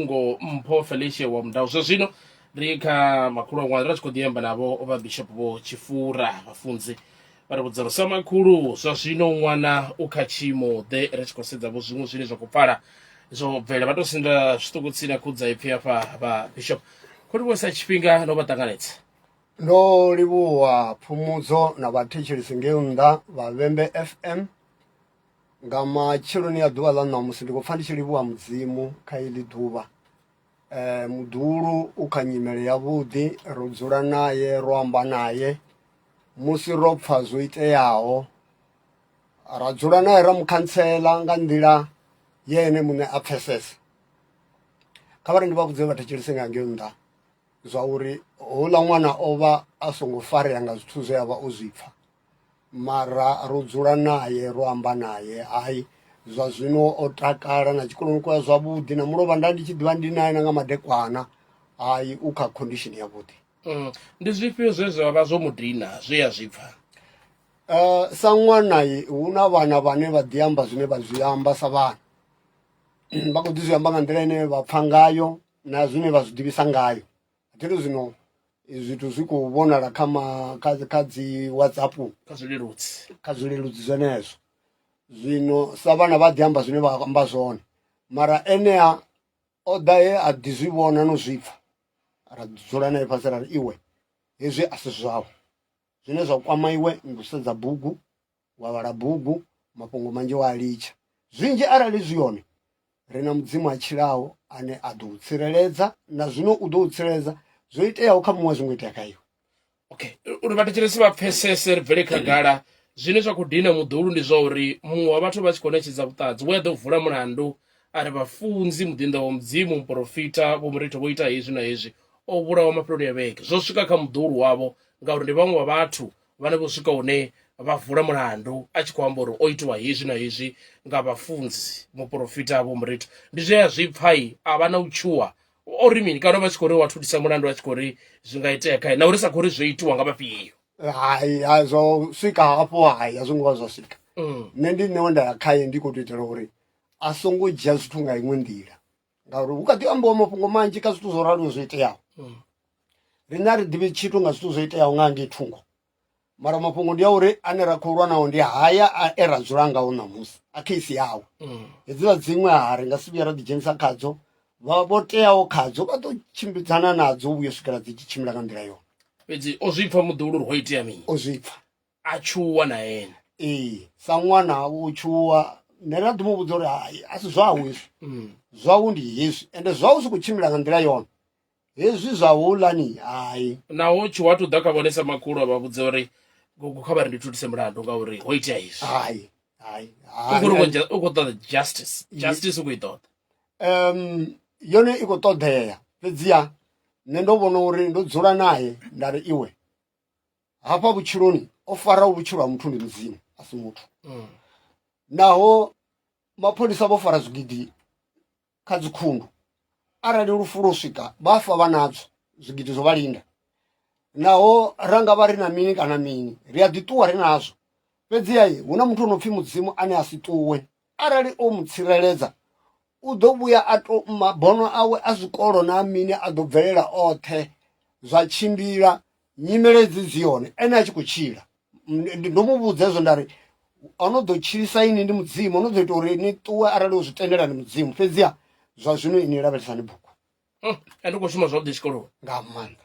ngo mpho felicia wa mudau zwa zwino ri kha makhulu aṅwana ri tshi khou ḓiamba navho vha bishop vho tshifura vhafunzi vha ri vhudza uri sa makhulu zwa zwino ṅwana u kha tshiimo ḓe ri tshi khou sedza vho zwiṅwe zwine zwa khou pfala zwo bvela vha tou sinda zwiṱuku tsini na khudza ipfi hafha vha bishop kho livhuwesa tshifhinga no vha ṱanganedza ndo livhuwa phumudzo na vhathetshelesi ngei nnḓa vha vhembe fm Nga matsheloni a ḓuvha ḽa ṋamusi ndi khou pfa ndi tshi livhuwa Mudzimu kha iḽi ḓuvha. Muḓuhulu u kha nyimele ya vhuḓi ro dzula naye ro amba naye musi ro pfa zwo iteaho ra dzula nae ra mukhantsela nga nḓila ye ene muṋe a pfesesa. Kha vhari ndi vha vhudze vha thetshelese nga ngeo nnḓa zwa uri houḽa ṅwana o vha a songo farea nga zwithu zwe avha o zwipfa. mara ro dzula naye ro amba naye hai zwa zwino o takala na tshikoloni kwa zwavhuḓi na mulovha nda ndi tshi ḓivha ndi naye na nga madekwana hai u kha condition yavhuḓi mm. ndi zwifhio zwe zwa vha zwo mudina zwe ya zwi pfha uh, sa ṅwana hu na vhana vhane vha ḓi amba zwine vha zwi amba sa vhana vha khou ḓi zwi amba nga nḓila ine vha pfha ngayo na zwine vha zwi ḓivhisa ngayo Khetho zwino zwithu zwi khou vhonala kha ma kha kha dzi whatsapp kha zwileludzi kha zwileludzi zwenezwo zwino sa vhana vha ḓi amba zwine vha amba zwone mara enea o ḓa he a ḓi zwi vhona no zwi pfha ra dzula nae fhasi ra ri iwe hezwi a si zwau zwine zwa kwama iwe ndi u sedza bugu wa vhala bugu mafhungo manzhi wa a litsha zwinzhi arali zwi hone ri na mudzimu a tshilaho ane a ḓo u tsireledza na zwino u ḓo u tsireledza zwo iteaho kha muṅwe a zwi ngo itea kha iwe okay uri vhathetshelesi vha pfesese ri bvele khagala zwine zwa khou dina muḓulu ndi zwa uri muṅwe wa vhathu vha tshi khou ṋetshedza vhuṱanzi we a ḓo vula mulandu a ri vhafunzi muḓinḓa wa mudzimu muporofita vho muritho vho ita hezwi na hezwi o vhulawa mafheloni ya vhege zwo swika kha muḓulu wavho ngauri ndi vhaṅwe vha vhathu vhane vho swika hune vha vula mulandu a tshi khou amba uri o itiwa hezwi na hezwi nga vhafunzi muporofita vho muritu ndi zwe a zwi pfai a vha na u tshuwa o ri mini kana vha tshi khou ri wa thulisa mulandu a tshi khou ri zwi nga itea khae na uri sa khou ri zwo itiwa nga vhafhio hai zwo swika hafho hai a zwo ngo vha zwa swika mm. nṋe ndi ṋewe nda ya khaye ndi khou tou itela uri a songo dzhia zwithu nga iṅwe nḓila ngauri hu kha ḓi ambiwa mafhungo manzhi kha zwithu zwo raliwo zwo iteaho mm. riṋe a ri ḓivhi tshithu nga zwithu zwo iteaho nga ngei thungo mara mafhungo ndi a uri ane ra khou lwa nawo ndi haya e ra dzula ngawo ṋamusi a kheisi yawe mm. hedziḽa dziṅwe ha ri nga si vhuya ra ḓidzhenisa khadzo vha vho teaho khadzo vha ḓo tshimbidzana nadzo vhuyo swikela dzi tshi tshimbila nga nḓila yone fhedzi o zwipfa muḓuhulu uri ho itea mini o zwipfa a tshuwa na ene ee sa ṅwana u tshuwa nṋe nda ḓi mu vhudza uri hai a si zwau hezwi mm. zwau ndi hezwi ende zwau si khou tshimbila nga nḓila yone hezwi zwa hulani hai naho tshuwa tu ḓa kha vhone sa makhulu a vha vhudza uri gogo kha vha ri ndi thulise mulandu ngauri ho itea hezwi hai hai u khou ṱoḓa justice justice u khou i ṱoḓa um yone i khou ṱoḓea fhedziha nṋe ndo vhona uri ndo dzula naye nda ri iwe hafha vhutshiloni o faraho vhutshilo ha muthu ndi mudzimu a si muthu mm. naho mapholisa vho fara zwigidi kha dzikhundu arali lufu lwo swika vha fa vha nadzo zwigidi zwo vha linda naho ra nga vha ri na mini kana mini ri a ḓiṱuwa ri nazwo fhedziha hu na muthu o no pfhi mudzimu ane a si ṱuwe Arali o mu tsireledza, u ḓo vhuya a to mabono awe a zwikolo na mini a ḓo bvelela oṱhe zwa tshimbila nyimele dzi dzi hone ene a tshi khou tshila ndo mu vhudza hezwo nda ri ono ḓo tshilisa ini ndi mudzimu ono ḓo ita uri ni ṱuwe arali u zwi tendela ndi mudzimu fhedziha zwa zwino ini lavhelesani bugu hmm, a ndi khou shuma zwavhuḓi tshikoloni nga maanḓa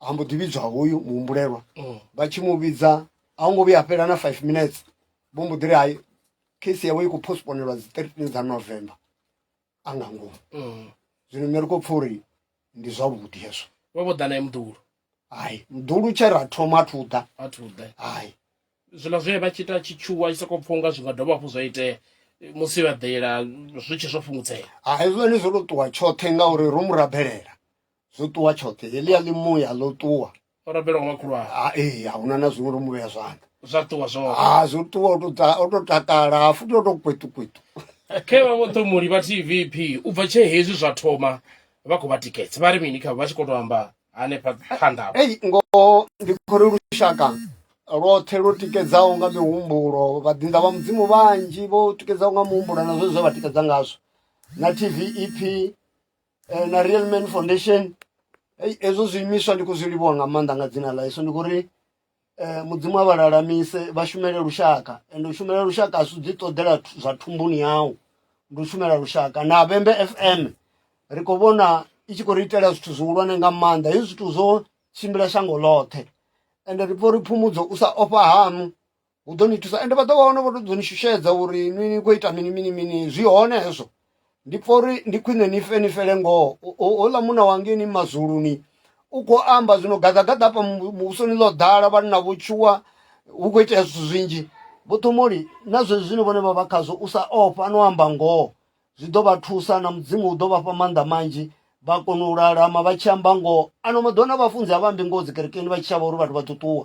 ha mbo ḓi vhidzwa hoyu muhumbulelwa mm. vha tshi mu vhidza a hu ngo vhuya a fhela na five minutes vho mbo ḓi ri hai case yawe i khou postponelwa dzi thirteen dza november a nga ngomu mm. zwino nṋe ri khou pfa uri ndi zwavhuḓi hezwo vho vho ḓa naye muḓulu hai muḓulu tshe ra thoma athu ḓa athu ḓa hai zwiḽa zwe vha tshi ita tshi tshuwa tshi sokou pfha unga zwi nga dovha hafhu zwa itea musi vha ḓela zwi tshi zwo fhungudzea ha hezwoni zwo to ṱuwa tshoṱhe ngauri ro mu rabelela zwo ṱuwa tshoṱhe heḽia ḽi muya ḽo ṱuwa o rabelwa nga vhakhulwane ha ee a huna na zwiṅwe ro mu vhea zwanḓa zwa ṱuwa zwoṱhe ha zwo ṱuwa o tou ta- o tou takala ha futhi o tou kwetukwetu khe vha vho ṱhomuli vha tvp u bva tshe hezwi zwa thoma vha khou vha tikedza vha ri mini kha vha tshi khou tou amba hanefha phanḓa hafho ei ngoho ndi khori lushaka lwoṱhe lwo tikedzaho nga mihumbulo vhaḓinḓa vha mudzimu vhanzhi vho tikedzaho nga muhumbulo na zwe zwe vha tikedza ngazwo na tvep eh, na real man foundation Ei, hezwo zwiimiswa ndi khou zwi livhuwa nga maanḓa nga dzina ḽa yesu ndi khou ri eh, mudzimu a vha lalamise vha shumele lushaka ende u shumela lushaka a si ḓi ṱoḓela thu- zwa thumbuni yau ndi u shumela lushaka na vhembe fm ri khou vhona i tshi khou ri itela zwithu zwihulwane nga maanḓa hezwi zwithu zwo tshimbila shango ḽoṱhe ende ri pfha uri phumudzo u sa ofha haṋu hu ḓo ni thusa ende vha ḓo vha hone vho to ḓo ni shushedza uri ni ni khou ita mini mini mini zwi hone hezwo ndi pfha uri ndi khwine ni fe ni fele ngoho houḽa muna wangeni mazuluni u khou amba zwino gaḓagaḓa hafha muvhusoni ḽo ḓala vhanna vho tshuwa hu khou itea zwithu zwinzhi vho thomoli na zwezwi zwine vhone vha vha khazwo u sa ofha no amba ngoho zwi ḓo vha thusa na mudzimu u ḓo vha fha maanḓa manzhi vha kona u lalama vha tshi amba ngoho ano maḓuvha na vhafunzi a vha ambi ngoho dzi kerekeni vha tshi shavha uri vhathu vha ṱuṱuwa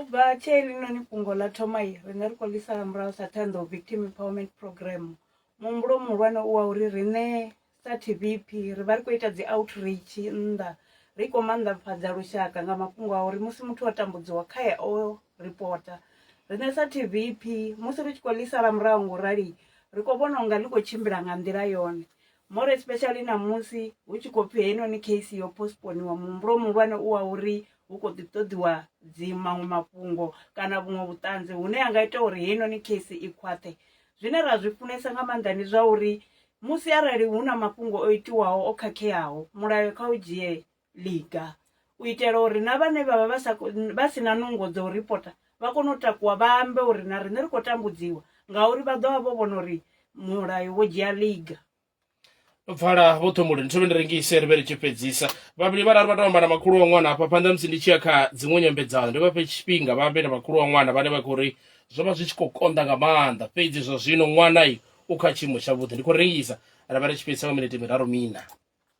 U bva tshe helinoni fhungo ḽa thoma, ri nga ri khou ḽi sala murahu sa Ṱhoḓou Victim Empowerment Programme. Muhumbulo muhulwane u wa uri riṋe sa TVEP ri vha ri khou ita dzi outreach nnḓa ri khou maanḓafhadza lushaka nga mafhungo a uri musi muthu o tambudziwa kha ya o ripota. Riṋe sa TVEP musi ri tshi khou ḽi sala murahu ngo rali ri khou vhona unga ḽi khou tshimbila nga nḓila yone. More especially ṋamusi hu tshi khou pfhi heinoni case yo postponiwa muhumbulo muhulwane u wa uri hu khou ḓi ṱoḓiwa dzi maṅwe mafhungo kana vhuṅwe vhuṱanzi hune ha nga ita uri heinoni case i khwaṱhe zwine ra zwi funesa nga maanḓa ndi zwa uri musi arali hu na mafhungo o itiwaho o khakheaho mulayo kha u dzhie ḽiga u itela uri na vhane vhavha vha sa vha si na nungo dza u ripota vha kone u takuwa vha ambe uri na riṋe ri khou tambudziwa ngauri vha ḓovha vho vhona uri mulayo wo dzhia ḽiga. pfala vho thomboleni thome ndi rengise ri vhe ri tshi fhedzisa vhavhili vhararu vha tou amba na makhulu wa ṅwana hafha phanḓa musi ndi tshi ya kha dziṅwe nyambedzano ndi vha fhe tshifhinga vha ambe na makhulu wa ṅwana vhane vha khou ri zwo vha zwi tshi khou konḓa nga maanḓa fhedzi zwa zwino ṅwana i u kha tshiimo tshavhuḓi ndi khou rengisa ra vha ri tshi fhedzisa nga minete miraru mina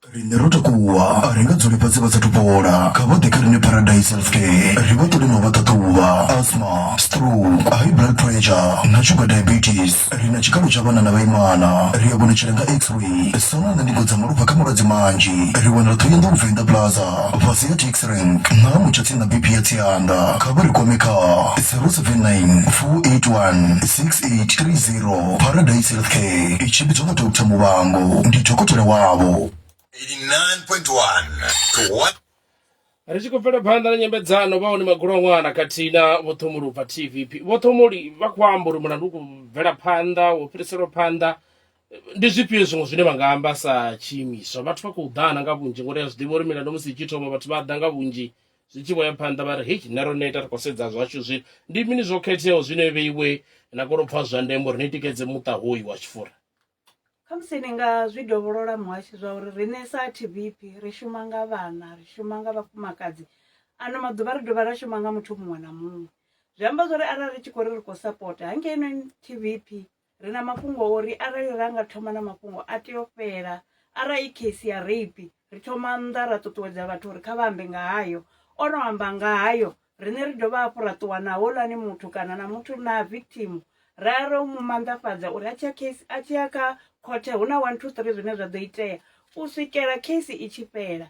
Riṋe ro takuwa, a ri nga dzuli fhasi vha sathu fhola. Kha vha ḓe kha riṋe Paradise Healthcare ri vha ṱole na u vha ṱhaṱhuvha. Asthma, stroke, high blood pressure na sugar diabetes. Ri na tshikalo tsha vhana na vhaimana. Ri a vhonetshela nga X-ray, sono na ndingo dza malofha kha malwadze manzhi. Ri wanala Thohoyandou Venḓa Plaza, fhasi ha Taxi Rank nṱha ha mutsha tsini na BP ya Tsianda. Kha vha ri kwame kha 079 481 683. Mikhululelo, Paradise Healthcare i tshimbidzwa nga Doctor Muvhango, ndi dokotela wavho. 89.1 to 1. Ri tshi khou bvela phanḓa na nyambedzano, vha hone magulwaṅwana khathihi na Vho Ṱhomoli u bva TVP. Vho Ṱhomoli vha khou amba uri mulandu u khou bvela phanḓa, wo fhiriselwa phanḓa. Ndi zwifhio zwiṅwe zwine vha nga amba sa tshiimiswa? Vhathu vha khou ḓana nga vhunzhi ngori a zwi ḓivha uri milandu musi i tshi thoma vhathu vha ḓa nga vhunzhi Zwi tshi vho ya phanḓa vha ri, Hei, riṋe ro neta, ri khou sedza zwashu zwi ndi mini zwo khetheaho zwine yo vheiwe na kona u pfa zwa ndeme uri ni tikedze muṱa hoyu wa Tshifura. Khamusi ni nga zwi dovholola muhasho zwa uri riṋe sa TVP ri shuma nga vhana, ri shuma nga vhafumakadzi, ano maḓuvha ri dovha ra shuma nga muthu muṅwe na muṅwe. Zwi amba zwori arali ri tshi khou ri ri khou sapota hangei noni TVP Ri na mafhungo a uri arali ra nga thoma na mafhungo a tea u fhela arali i case ya rape ri thoma nnḓa ra ṱuṱuwedza vhathu uri kha vha ambe nga hayo o no amba nga hayo riṋe ri dovha hafhu ra ṱuwa na holani muthu kana na muthu na victim ra ya ro mu manḓafhadza uri a tshiya case a tshiya kha khothe hu na one two three zwine zwa ḓo itea u swikela case i tshi fhela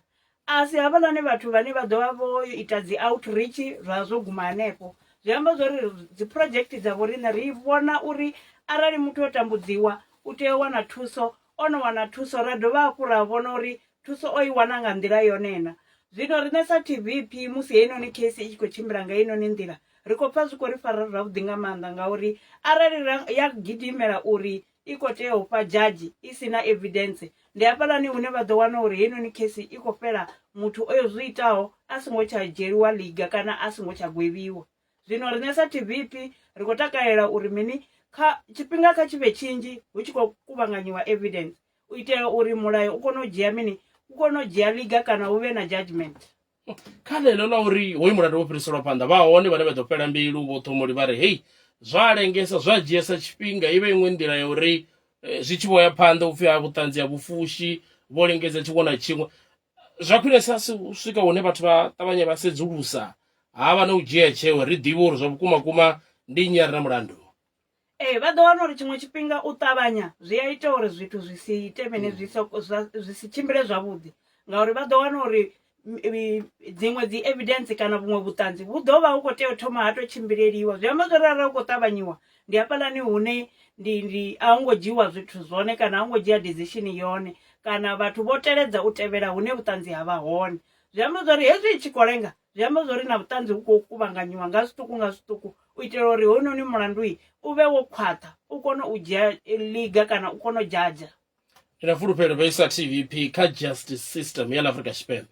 A si havhaḽani vhathu vhane vha ḓo vha vho ita dzi outreach zwa zwo guma hanefho. Zwi amba zwa uri dzi project dza vhoriṋe ri vhona uri arali muthu o tambudziwa u tea u wana thuso, o no wana thuso ra dovha hafhu ra vhona uri thuso o i wana nga nḓila yone na. Zwino riṋe sa TVP musi heinoni case i tshi khou tshimbila nga heinoni nḓila, ri khou pfha zwi khou ri fara zwavhuḓi nga maanḓa ngauri arali ra ya gidimela uri i kho tea u fha judge i si na evidence ndi hafhaḽani hune vha ḓo wana uri heinoni khesi i khou fhela muthu oyo zwi itaho a songo tsha dzhieliwa liga kana a songo tsha gwevhiwa zwino riṋe sa tvp ri khou takalela uri mini kha tshifhinga kha tshivhe tshinzhi hu tshi khou kuvhanganyiwa evidence u itela uri mulayo u kone u dzhia mini u kone u dzhia liga kana hu vhe na judgment kha ḽeḽo ḽa uri hoyu mulandu wo fhiriselwa phanḓa vha hone vhane vha ḓo fhela mbilu vho ṱhomoli vha ri hei zwa lengesa zwa dzhiesa tshifhinga i vhe iṅwe nḓila ya uri eh, zwi tshi vho ya phanḓa upfhi ha vhuṱanzi ha vhufushi vho lingedza tshiṅwe na tshiṅwe zwa khwinesa si u swika hune vhathu vha ṱavhanye vha sedzulusa ha vha na u dzhia tsheo ri ḓivhe uri zwa vhukuma kuma ndi nnyi a re na mulandu Ee, vha ḓo wana uri tshiṅwe tshifhinga u ṱavhanya zwi a ita uri zwithu zwi si ite mini zwi so zwi si tshimbile zwavhuḓi ngauri vha ḓo wana uri dziṅwe dzi evidence kana vhuṅwe vhuṱanzi vhu ḓo vha hu khou tea u thoma ha to tshimbileliwa zwi amba zwori arali u khou ṱavhanyiwa ndi hafhaḽani hune ndi ndi a hu ngo dzhiwa zwithu zwone kana a hu ngo dzhia decision yone kana vhathu vho teledza u tevhela hune vhuṱanzi ha vha hone zwi amba zwori hezwi i tshi khou lenga zwi amba zwori na vhuṱanzi vhu khou kuvhanganyiwa nga zwiṱuku nga zwiṱuku u itela uri hounoni mulandu u vhe wo khwaṱha u kone u dzhia eh, liga kana u kone u dzhadzha ri na fulufhelo vhe sa tvp kha justice system ya la afrika tshipembe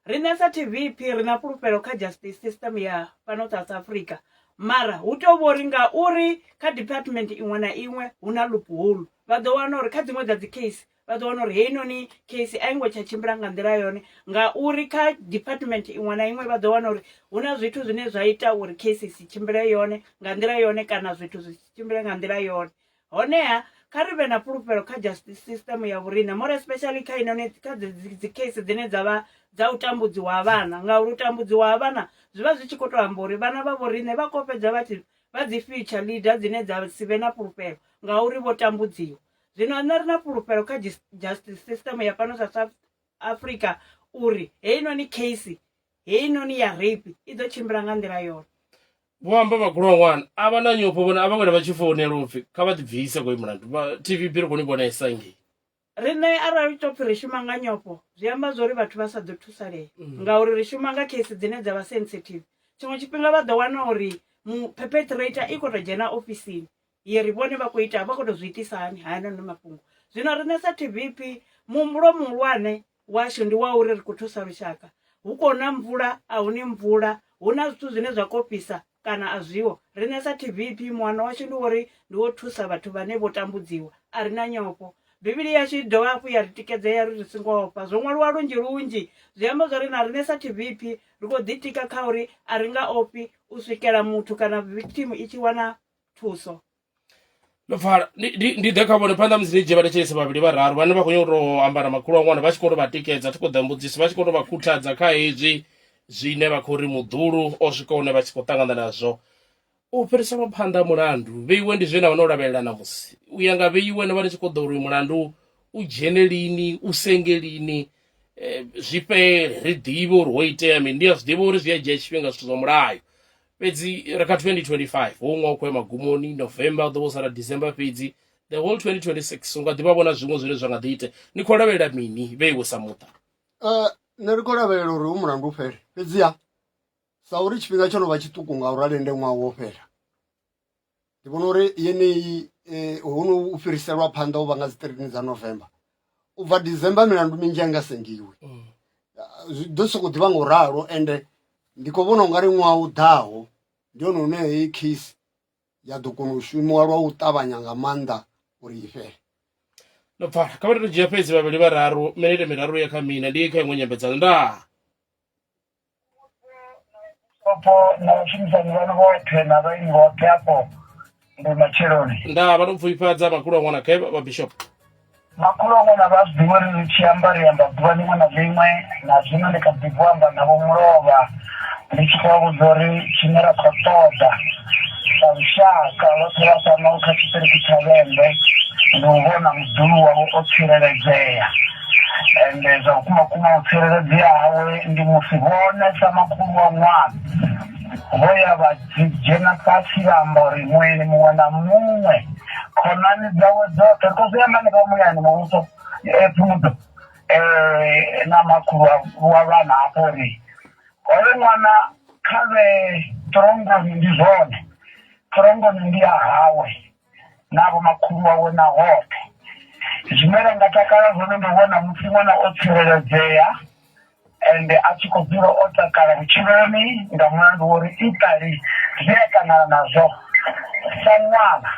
riṋe sa tvp ri na fulufhelo kha justice system ya fhano south africa mara hu tea u vha uri nga uri kha department iṅwe na iṅwe hu na loophole vha ḓo wana uri kha dziṅwe dza dzi case vha ḓo wana uri heinoni case a i ngo tsha tshimbila nga nḓila yone ngauri kha department iṅwe na iṅwe vha ḓo wana uri hu na zwithu zwine zwa ita uri case i si tshimbile yone nga nḓila yone kana zwithu zwi si tshimbile nga nḓila yone honeha kha ri vhe na fhulufhelo kha justice system ya vhorine more especially kha inoni kha dzi case dzine dza vha dza u tambudziwa ha vhana ngauri u tambudziwa ha vhana zwi vha zwi tshi khou tou amba uri vhana vha vhorine vha khou fhedza vha tshi vha dzi future leader dzine dza si vhe na fhulufhelo ngauri vho tambudziwa zwino nṋe ri na fhulufhelo kha justice system ya fhano sa south africa uri heinoni case heinoni ya rape i ḓo tshimbila nga nḓila yone vho amba vhagulwa wana a vha na nyofho vhone a vha wena vha tshi founela upfi kha vha ḓi bvise koi mulandu tv bi ri koni vhona isa ngei riṋe arali to pfhi ri shuma nga nyofho zwi amba zwa uri vhathu vha sa ḓo thusalea mm. ngauri ri shuma nga case dzine dza vha sensitive tshiṅwe tshifhinga vha ḓo wana uri perpetrator i khou tou dzhena ofisini yeri vhone vha khou ita vha khou tou zwi itisa hani hayanoni mafhungo zwino riṋe sa tvp muhumbulo muhulwane washu ndi wa uri ri khou thusa lushaka hu khou na mvula a huni mvula hu na zwithu zwine zwa khou fhisa kana a zwiho riṋe sa tvp muhano washu ndi wori ndi wo thusa vhathu vhane vho tambudziwa a ri na nyofho bivhili yashu i dovha hafhu ya ri tikedzea ri ri singo ofha zwo ṅwaliwa lunzhi lunzhi zwi amba zwa ri na riṋe sa tvp ri khou ḓitika kha uri a ri nga ofhi u swikela muthu kana victim i tshi wana thuso ndo pfala ndi- ndi ndi ḓe kha vhone phanḓa musi ndi dzhie vhathetshelesi vhavhili vhararu vhane vha khou nyanga u tou amba na makhulu a ṅwana vha tshi khou tou vha tikedza thi khou ḓa mbudziso vha tshi khou tou vha khuthadza kha hezwi zwine vha khou ri muḓulu o swika hune vha tshi khou ṱangana nazwo u fhiriselwa phanḓa mulandu vheiwe ndi zwine na wana u lavhelela ṋamusi u ya nga vheiwe no vha ni tshi khou ḓo uri uyu mulandu u dzhene lini u senge lini eh, zwi fhele ri ḓivhe uri ho itea mini ndi a zwi ḓivha uri zwi a dzhia tshifhinga zwithu zwa mulayo fhedzi ri kha 2025 ho ṅwa khou ya magumoni november u ḓo vho sala december fhedzi the whole 2026 u nga ḓivha vhona zwiṅwe zwine zwa nga ḓi ite ni khou lavhelela mini vhe iwe sa muṱa eh, nṋe ri khou lavhelela uri u mulandu u fhele fhedziha sa uri tshifhinga tsho no vha tshiṱuku ngauri a lende ṅwaha wo fhela ndi vhona uri yeneyi eh, huno u fhiriselwa phanḓa u vha nga dzi 13 dza november u bva december milandu minzhi a nga sengiwi mm. ah, zwi ḓo sokou ḓivha nga u ralo ende ndi khou vhona u nga ri ṅwaha u ḓaho ndi hone hune heyi case ya ḓo kona u shumiwa lwa u ṱavhanya nga maanḓa uri i fhele ndo pfala kha vha tou dzhia fhedzi vhavhili vhararu minete miraru ya kha mina ndi kha iṅwe nyambedzano ndaa Opo na vhashumisani vhanu vhoṱhe na vhaeni vhoṱhe afho ndi matsheloni. nda vha ndo pfufhifhadza makhulu a ṅwana khe vha bishop Makhulu a ṅwana vha a zwi ḓivha uri ri tshi amba ri amba ḓuvha ḽiṅwe na ḽiṅwe na zwino ndi kha ḓi bvo amba navho mulovha ndi tshi khou vha vhudza uri tshine ra khou ṱoḓa sa lushaka vhoṱhe vha fhano kha tshiṱiriki tsha vhembe ndi u vhona muḓulu wavho o tsireledzea Ende zwa vhukuma-vhukuma u tsireledzea hawe ndi musi vhone sa makhulu wa ṅwana vho ya vha dzhena fhasi vha amba uri, Mueni muṅwe na muṅwe, khonani dzawe dzoṱhe, ri khou zwi amba hanefha Muyani Muvhuso, e, Pfumudzo, e, na makhulu wa, wa vhana hafho uri, Hoyo ṅwana kha vhe throngoni, ndi zwone, throngoni ndi ya hawe. na vho makhulu wawe na hoṱhe. Zwine ra nga takala zwone ndi u vhona musi ṅwana o tsireledzea ende a tshi khou dzula o takala vhutshiloni nga mulandu wa uri iṱali zwi a ṱangana nazwo sa ṅwana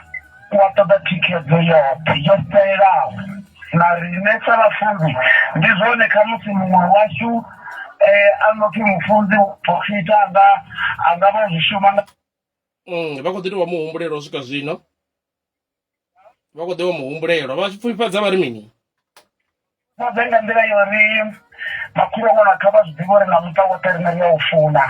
u a ṱoḓa thikhedzo yoṱhe yo fhelelaho. Na riṋe sa vhafunzi ndi zwone khamusi muṅwe washu a no pfhi mufunzi wa porofita a nga a nga vha o zwi shuma nga. mm, vha khou ḓi tou vha muhumbulelwa u swika zwino vha khou ḓi vha muhumbulelwa vha tshi pfufhifhadza vha ri mini vhudze nga nḓila yo ri makhulu ṅwana kha vha zwi ḓivhe uri na muṱa woṱhe rine ri a u funa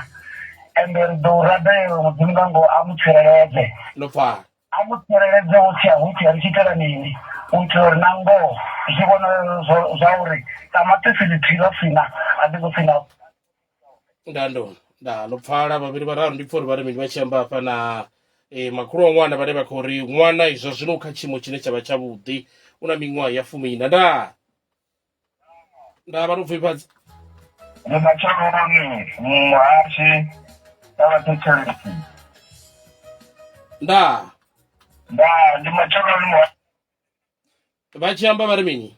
ende ri ḓo u rabela mudzimu nga ngoho a mu tsireledze ndo pfala a mu tsireledze wo tshia hu tshia ri tshi itela mini u itela uri na ngoho zwi vhonala zwo- zwa uri ṱamaṱisi ḽithihi ḽo sina a ḽi ngo sina nda ndo nda ndo pfala vhavhili vhararu ndi pfa uri vha ri mini vha tshi amba hafha na eh, makhulu wa ṅwana vhane vha khou ri ṅwana izwa zwino u kha tshiimo tshine tsha vha tshavhuḓi u na miṅwaha ya fumiina nda nda vha ndo pfifhadza ndi matsheloni muhashe na vhathetshelesi nda nda ndi matsheloni muhashe vha tshi amba vha ri mini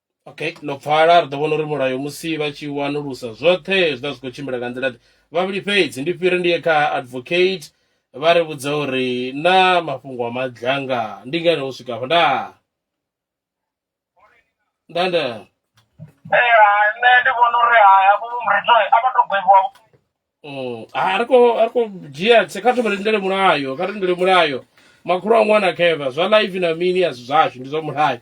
Okay, no pfala ri ḓo vhona uri mulayo musi vha tshi wanulusa zwoṱhe zwi ḓa zwi khou tshimbila nga nḓila ḓe. Vhavhili fhedzi ndi fhire ndi ye kha advocate vha ri vhudza uri na mafhungo a madlanga ndi ngani ho swika afha. Nda nda nda. Eh, hai, nṋe ndi vhona uri hai havho vho muridzwa a vha to gwevhiwa vho. Mm, a ri khou a ri khou dzhia tse kha thome ri lindele mulayo, kha ri lindele mulayo. Makhulu a ṅwana khevha zwa live na mini a si zwashu ndi zwa mulayo.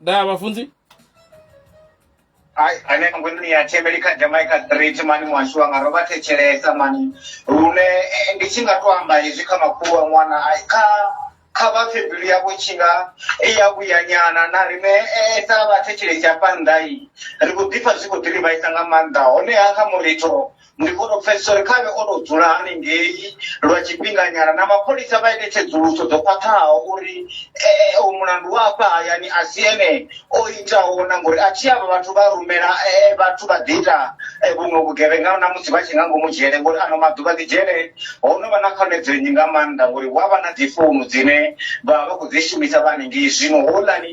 da vhafunzi Ai, ane ngwini ya thembeli kha jamaica street mani mwashu anga ro vha thetshelesa mani lune eh, ndi tshi nga to amba hezwi kha makhulu wa ṅwana ai, kha kha vha pfe mbilu yavho tshi nga i ya vhuyanyana na rine eh, sa vha thetshelesi hafha nnḓai ri khou ḓipfa zwi khou ḓi ri vhaisa nga maanḓa honeha kha muritho ndi kone u pfesesa uri khavhe o tou dzula haningei lwa tshifhinganyana na mapholisa vha ite tsedzuluso dzo khwaṱhaho uri eh, u mulandu wa afha hayani a si ene o itaho na ngori a thi avha vhathu vha rumela eh, vhathu vha ḓi ita eh, vhuṅwe vhugevhenga na musi vha tshi nga ngomu dzhele ngori ano maḓuvha ḓi dzhele ho no vha na khonedzeo nnyi nga maanḓa ngori hu avha na dzi founu dzine vha vha vha khou dzi shumisa vha haningei zwino houḽani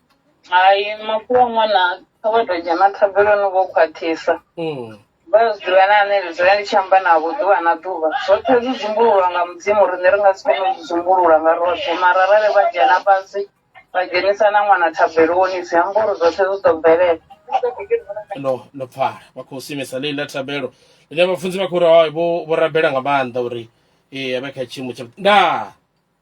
hai makhulu a ṅwana kha vha tou dzhena thabeloni vho khwaṱhisa Mm. vha zwi ḓivha na ane ndi dzula ndi tshi amba navho ḓuvha na ḓuvha zwoṱhe zwi dzumbululwa nga mudzimu riṋe ri nga si kone u zwi dzumbulula nga roṱhe mara arali vha dzhena fhasi vha dzhenisa na ṅwana thabeloni zwi amba uri zwoṱhe zwi ḓo bvelela ndo ndo pfala vha khou simisa ḽeyi ḽa thabelo ḽine vhafunzi vha khou ri hai, vho vho rabela nga maanḓa uri ee a vhe kha tshiimo tsha ndaa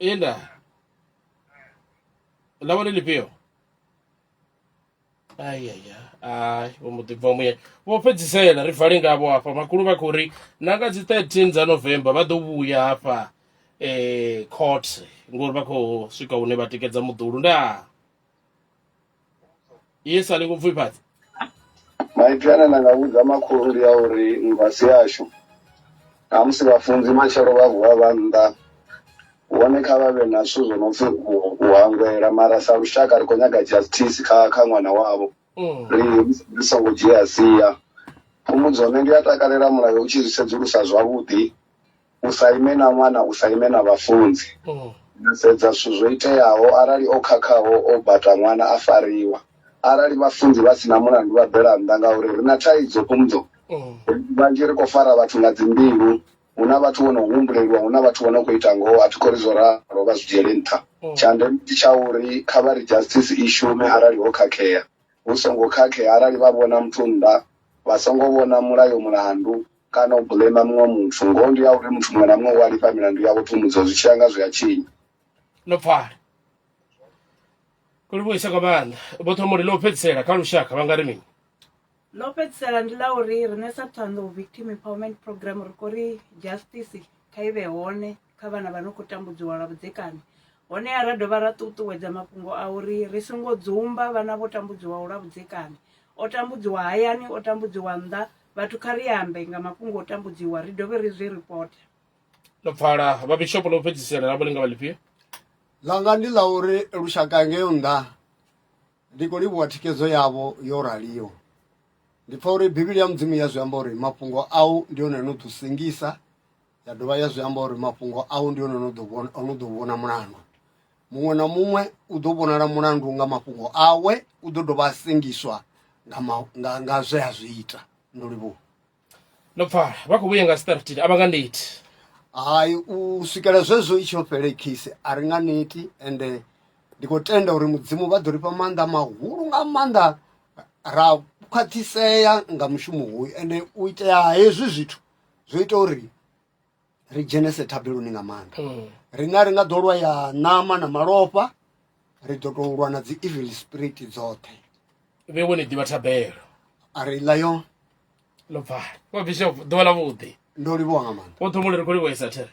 Enda. Ḽa vha ḽi ḽifhio? Ai ai ai ai, vho mbo ḓi bva muyani. Vho fhedzisela ri vale ngavho hafha. Makhulu vha khou ri na nga dzi 13 dza November vha ḓo vhuya hafha eh court ngori vha khou swika hune vha tikedza muḓulu. Ndaa. yes a ni khou pfifhadza maipfi ane nda nga vhudza makhulu ndi a uri nngwasi yashu namusi vhafunzi matshelo vha vuwa vha nnḓa hone kha vha vhe na zwithu zwo no pfi u hangwela mara sa lushaka ri khou nyaga justice kha kha ṅwana wavho mm. ri ri songo dzhia sia phumudzo nṋe ndi a takalela mulayo u tshi zwi sedzulusa zwavhuḓi u sa ime na ṅwana u sa ime na vhafunzi mm. na sedza zwithu zwo iteaho arali o khakhaho o bata ṅwana a fariwa arali vhafunzi vha sina mulandu vha bela nnḓa ngauri ri na thaidzo kumdzo mm. vhanzhi ri khou fara vhathu nga dzimbilu hu na vhathu vho no humbuleliwa hu na vhathu vho no khou ita ngoho a thi khou ri zwo ralo vha zwi dzhiele nṱha mm. tsha ndeme ndi tsha uri kha vha ri justice i shume arali ho khakhea hu songo khakhea arali vha vhona muthu nnḓa vha songo vhona mulayo mulandu kana u blema muṅwe muthu ngoho ndi ya uri muthu muṅwe na muṅwe u a lifha milandu yawe phumudzo zwi tshi ya nga zwi a tshinya no pfala kuli vhuisa kwa maanḓa vho thoma uri ḽo fhedzisela kha lushaka vha nga ri mini ḽo fhedzisela ndi ḽa uri riṋe sa thondo victim empowerment program ri khou ri justice kha i vhe hone kha vhana vha no khou tambudziwa lwa vhudzekani honeha ra dovha ra ṱuṱuwedza mafhungo a uri ri songo dzumba vhana vho tambudziwaho lwa vhudzekani o tambudziwa hayani o tambudziwa nnḓa vhathu kha ri ambe nga mafhungo o tambudziwa ri dovhe ri zwi reporte ḽo pfala vhabishopo ḽo fhedzisela ḽa vhulinga vha ḽifhio ḽanga ndi ḽa uri lushaka ngeo nnḓa ndi khou livhuwa thikedzo yavho yo raliho ndi pfa uri bivhili ya mudzimu ya zwi amba uri mafhungo au ndi one no ḓo sengisa ya dovha ya zwi amba uri mafhungo au ndi one no ḓo vhona no ḓo vhona mulandu muṅwe na muṅwe u ḓo vhonala mulandu nga mafhungo awe u ḓo dovha a sengiswa nga, ma, nga, nga zwe a zwi ita ndo livhuwa ndo pfala vha khou vhuya nga startin a vha nga neti hai u swikela zwezwo i tsho fhele khisi a ri nga neti ende ndi khou tenda uri mudzimu vha ḓo ri fha maanḓa mahulu nga maanḓa ra khwaṱhisea nga mushumo hoyu ende u itea hezwi zwithu zwo ita uri ri dzhenese thabeloni nga maanḓa mm. rina ri nga ḓo lwa ya ṋama na malofha ri ḓo tou lwa na dzi evil spirit dzoṱhe vhe wone ḓivha thabelo a ri ḽa yo ḽo bvali wa bishop ḓuvha ḽa vhuḓi ndo livhuwa nga maanḓa wo ṱhumule ri khou livhuwa isathere